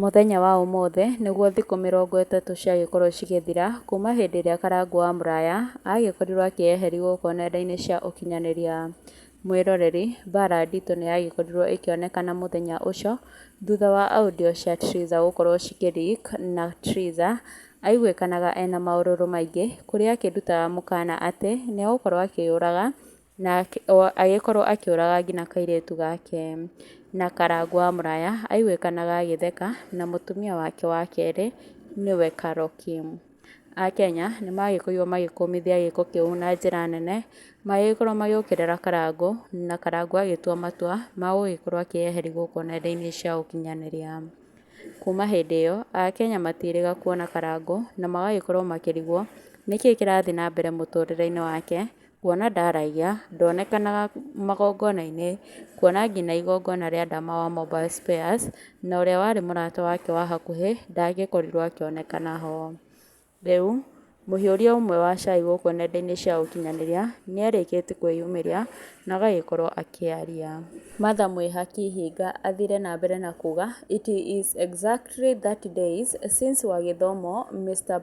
Mũthenya wa ũmũthĩ nĩguo thikũ mĩrongo ĩtatũ ciagĩkorwo cigĩthira kuma hĩndĩ ĩrĩa Karangũ wa Mũraya agĩkorirwo akĩyeheri gũkũ nenda-inĩ cia ũkinyanĩria. Mwĩroreri, Mbaara nditũ nĩ yagĩkorirwo ĩkĩonekana mũthenya ũcio thutha wa audio cia Triza gũkorwo cikĩ leak na Triza aiguĩkanaga ena maũrũrũ maingĩ kũrĩa akĩrutaga mũkana atĩ nĩ egũkorwo akĩyũraga Na agĩkorwo akĩũraga nginya kairĩtu gake na karangũ wa mũraya aiguĩkanaga agĩtheka na mũtumia wake wa kerĩ nĩwe Karoki. Akenya nĩ magĩkorirwo magĩkũmithia gĩko kĩu na njĩra nene magĩgĩkorwo magĩũkĩrĩra karangũ na karangũ agĩtua matua ma gũgĩkorwo akĩyeheria gũkũ nenda-inĩ cia ũkinyanĩria. Kuma hĩndĩ ĩyo akenya matirĩga kuona karangũ na magagĩkorwo makĩrigwo nĩkĩĩ kĩrathiĩ na mbere mũtũrĩre-inĩ wake Kuona ndaraiya, ndonekanaga magongona-inĩ, kuona nginya igongona rĩa ndama wa mobile spares, na ũrĩa warĩ mũrata wake wa hakuhĩ ndangĩkorirwo akĩonekana ho. Rĩu, mũhiũria ũmwe wa cai gũkũ nenda-inĩ cia ũkinyanĩria, nĩ arĩkĩtie kwĩyumĩria na agagĩkorwo akĩaria. Martha Mwĩha Kĩhinga athire na mbere na kuuga, It is exactly thirty days since Wagĩthomo Mister.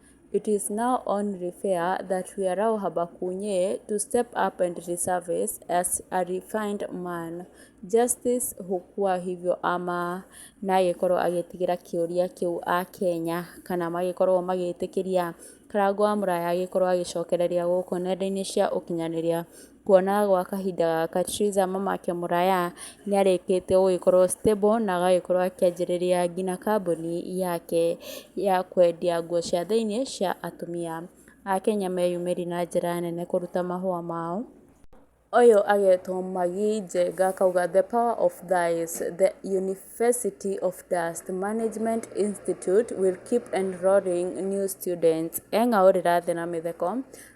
It is now only fair that we allow Habakunye to step up and resurface as a refined man. Justice Hukua hivyo ama na agĩkorwo agĩtigĩra kĩũria kĩu a Kenya kana magĩkorwo magĩtĩkĩria Karangũ wa Mũraya agĩkorwo agĩcokereria gũkũ nenda-inĩ cia ũkinyanĩria Kuona gwa kahinda gaka Theresa mamake Mũraya nĩarĩkĩtie gũgĩkorwo stable na agagĩkorwo akĩanjĩrĩria nginya kambuni yake ya kwendia nguo cia thĩiniĩ cia atumia. Akenya meyumĩririe na njĩra nene kũruta mahũa mao. Ũyũ agetwo Magi Njenga akauga the power of thighs, the university of dust, management institute will keep enrolling new students eng'aurĩra thĩ na mĩtheko.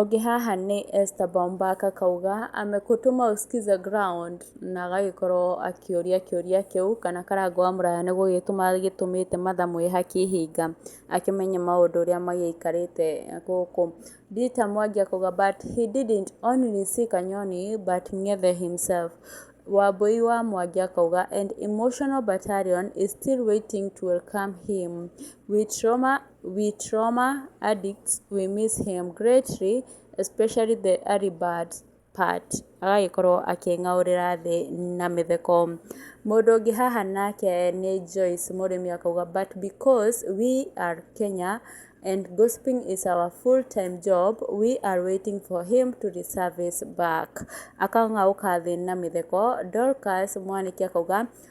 Ũngĩ haha nĩ Esther Bombak akauga, amekutuma usikize ground na agagĩkorwo akĩũria kĩũria kĩu kana karanga wa mũraya nĩ gũgĩtũma agĩtũmĩte mathamu e hakĩhinga akĩmenye maũndũ ũrĩa magĩikarĩte gũkũ. Rita Mwangi akauga, but he didn't only see Kanyoni but Ng'ethe himself. Wambũi wa Mwangi akauga, and emotional battalion is still waiting to welcome him with trauma. We trauma addicts we miss him greatly especially the early bird part agagĩkorwo akĩng'aũrĩra thĩ na mĩtheko. Mũndũ ũngĩ haha nake nĩ Joyce mũrĩmi akauga but because we are Kenya and gossiping is our full time job we are waiting for him to reservice back akang'aũka thĩ na mĩtheko. Dorcas mwanĩke akauga...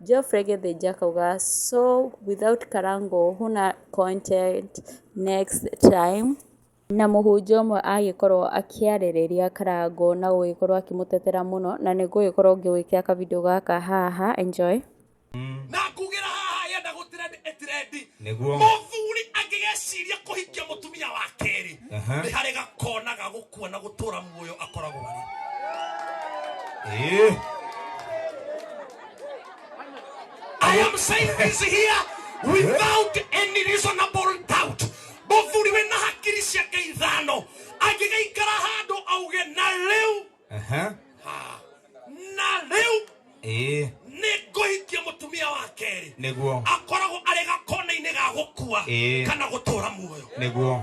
Geoffrey Githinji akauga so without Karango huna content next time na mũhunjia ũmwe agĩkorwo akĩarĩrĩria Karango na gũgĩkorwo akĩmũtetera mũno na nĩ ngũgĩkorwo ngĩgwĩkĩra ka video gaka haha enjoy. Na ngugĩra haha yenda gũtrendi ĩtrendi. Nĩguo. Mũthuri angĩgeciria kũhikia mũtumia wa kerĩ nĩ harĩ gakona ga gũkua na gũtũra muoyo akoragwo arĩ. Ĩĩ. I am saying this here without any reasonable doubt. Mũthuri wĩ na hakiri ciake ithano angĩgaikara handũ auge na rĩu Aha. na rĩu Ĩĩ, nĩ ngũhikia mũtumia wa kerĩ nĩguo. akoragwo arĩ gakona-inĩ ga gũkua Ĩĩ. kana gũtũra muoyo Nĩguo.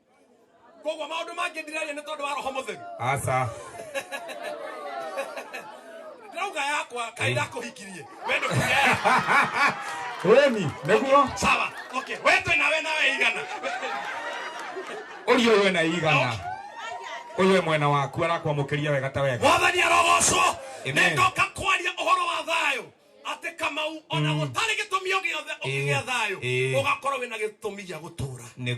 koguo maundu mangĩ ndireria nĩ tondũ wa roho mũtheru aca ndĩrauga yakwa kaĩ ndakũhikirie we ndũkireya ĩni nĩguo sawa okay we twĩ nawe nawe igana ũyũ wena igana ũyũ wĩ mwena waku arakwamũkĩria wega ta wega mwathani arogocwo Amen. nĩndoka kwaria ũhoro wa thayũ atĩ kamau ona gũtarĩ gĩtũmi o gĩothe ũkĩgĩa thayũ Ĩĩ. ũgakorwo wĩna gĩtũmi gĩa gũtũra nĩ